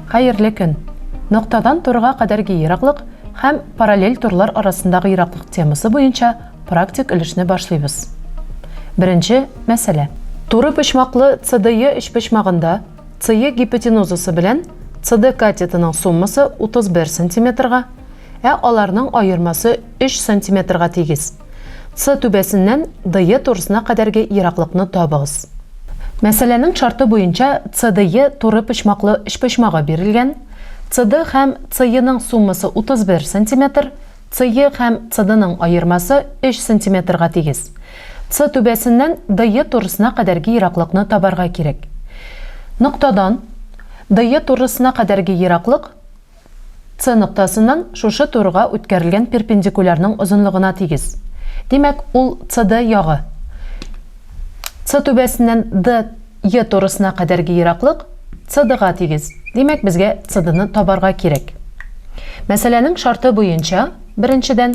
Хәерле көн! Ноктадан турга кадәрге ераклык һәм параллель турлар арасындагы ераклык темасы буенча практик өлешне башлыйбыз. Беренче мәсьәлә. Туры почмаклы CDE өчпочмагында CE гипотенузасы белән CD катетының суммасы 31 сантиметрга, Ә аларның аермасы өч сантиметрга тигез. Ц түбәсеннән ДЕ турысына кадәрге ераклыкны табыгыз. Мәсьәләнең шарты буенча ЦДЕ туры почмаклы өчпочмагы бирелгән, CD һәм CEның суммасы 31 сантиметр, CE һәм CDның аермасы өч сантиметрга тигез. Ц түбәсеннән ДЕ турысына кадәрге ераклыкны табарга кирәк. Ноктадан ДЕ турысына кадәрге ераклык С ноктасыннан шушы турыга үткәрелгән перпендикулярның озынлыгына тигез. Димәк, ул CD ягы. С түбәсеннән DE турысына кадәрге ераклык CD-га тигез. Димәк, безгә CD-ны табарга кирәк. Мәсьәләнең шарты буенча, беренчедән,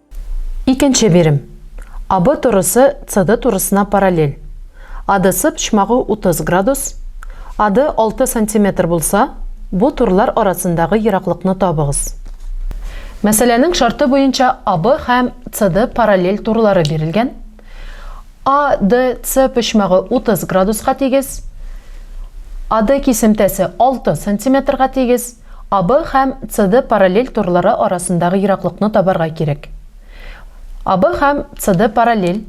Икенче бирем. АБ турысы CD турысына параллель. ADC почмагы 30 градус, AD 6 сантиметр булса, бу турлар арасындагы ераклыкны табыгыз. Мәсьәләнең шарты буенча АБ һәм CD параллель турлары бирелгән. ADC почмагы 30 градуска тигез, AD кисемтәсе 6 сантиметрга тигез, АБ һәм CD параллель торлары арасындагы ераклыкны табарга кирәк. АБ һәм CD параллель.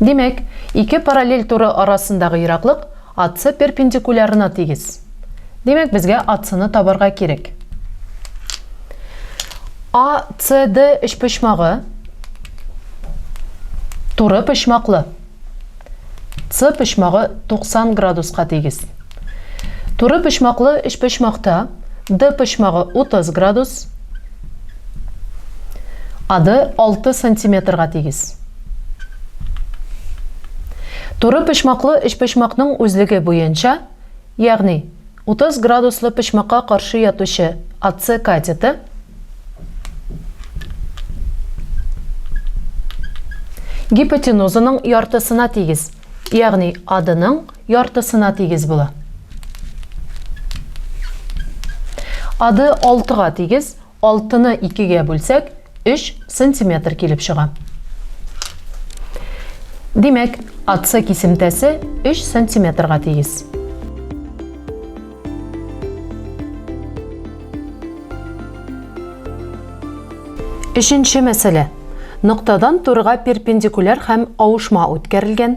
Димәк, ике параллель туры арасындагы ераклык AC перпендикулярына тигез. Димәк, безгә AC-ны табарга кирәк. ACD өчпочмагы туры почмаклы. С почмагы 90 градуска тигез. Туры почмаклы өчпочмакта Д почмагы 30 градус, АД 6 сантиметрга тигез. Туры почмаклы өчпочмакның үзлеге буенча Ягъни, 30 градуслы почмакка каршы ятучы АЦ катеты гипотенузаның яртысына тигез, ягъни АДның яртысына тигез була. АД 6 га тигез, Алтыны икегә бүлсәк, өч сантиметр килеп чыга. Димәк, АЦ кисемтәсе өч сантиметрга тигез. Өченче мәсьәлә. Ноктадан турыга перпендикуляр һәм авышма үткәрелгән.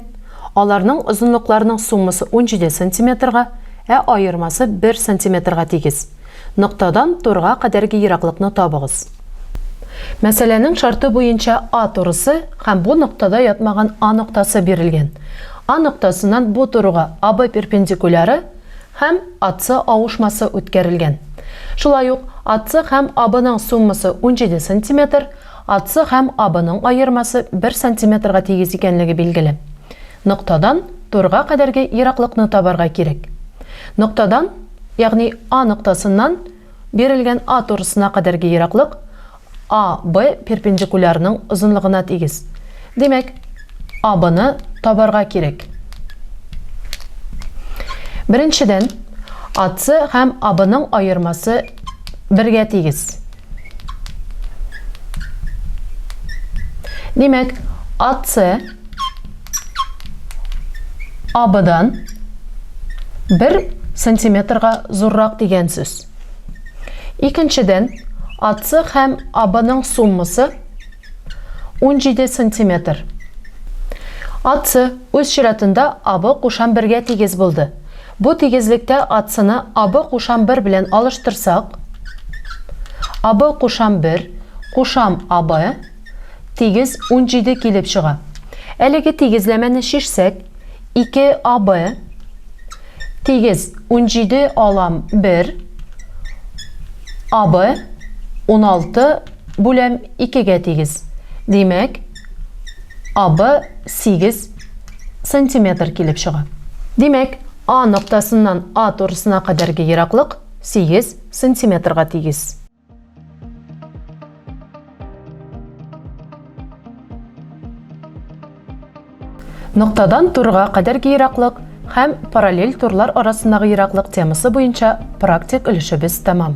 Аларның озынлыкларының суммасы 17 сантиметрга, ә аермасы 1 сантиметрга тигез. Ноктадан турга кадәрге ераклыкны табыгыз. Мәсьәләнең шарты буенча А турысы һәм бу ноктада ятмаган А ноктасы бирелгән. А ноктасыннан бу турыга АБ перпендикуляры һәм АС авышмасы үткәрелгән. Шулай ук АС һәм АБның суммасы унҗиде сантиметр, АС һәм АБның аермасы бер сантиметрга тигез икәнлеге билгеле. Ноктадан турга кадәрге ераклыкны табарга кирәк. Ноктадан Ягъни А ноктасыннан бирелгән А турысына кадәрге ераклык АБ перпендикулярның озынлыгына тигез. Димәк, АБны табарга кирәк. Беренчедән, АС һәм АБның аермасы бергә тигез. Димәк, АЦ АБдан 1 сантиметрга зуррак дигән сүз. Икенчедән, АЦ һәм АБның суммасы 17 сантиметр. АЦ үз чиратында АБ кушан бергә тигез булды. Бу тигезлектә атсыны абы кушам бер белән алыштырсак, абы кушам бер кушам абы тигез унҗиде килеп чыга. Әлеге тигезләмәне чишсәк, ике абы тигез унҗиде алам бер абы уналты бүләм икегә тигез. Димәк. Абы 8 сантиметр килеп чыга. Димәк, А ноктасыннан А турысына кадәрге ераклык 8 сантиметрга тигез. Ноктадан турга кадәрге ераклык һәм параллель турлар арасындагы ераклык темасы буенча практик өлешебез тәмам.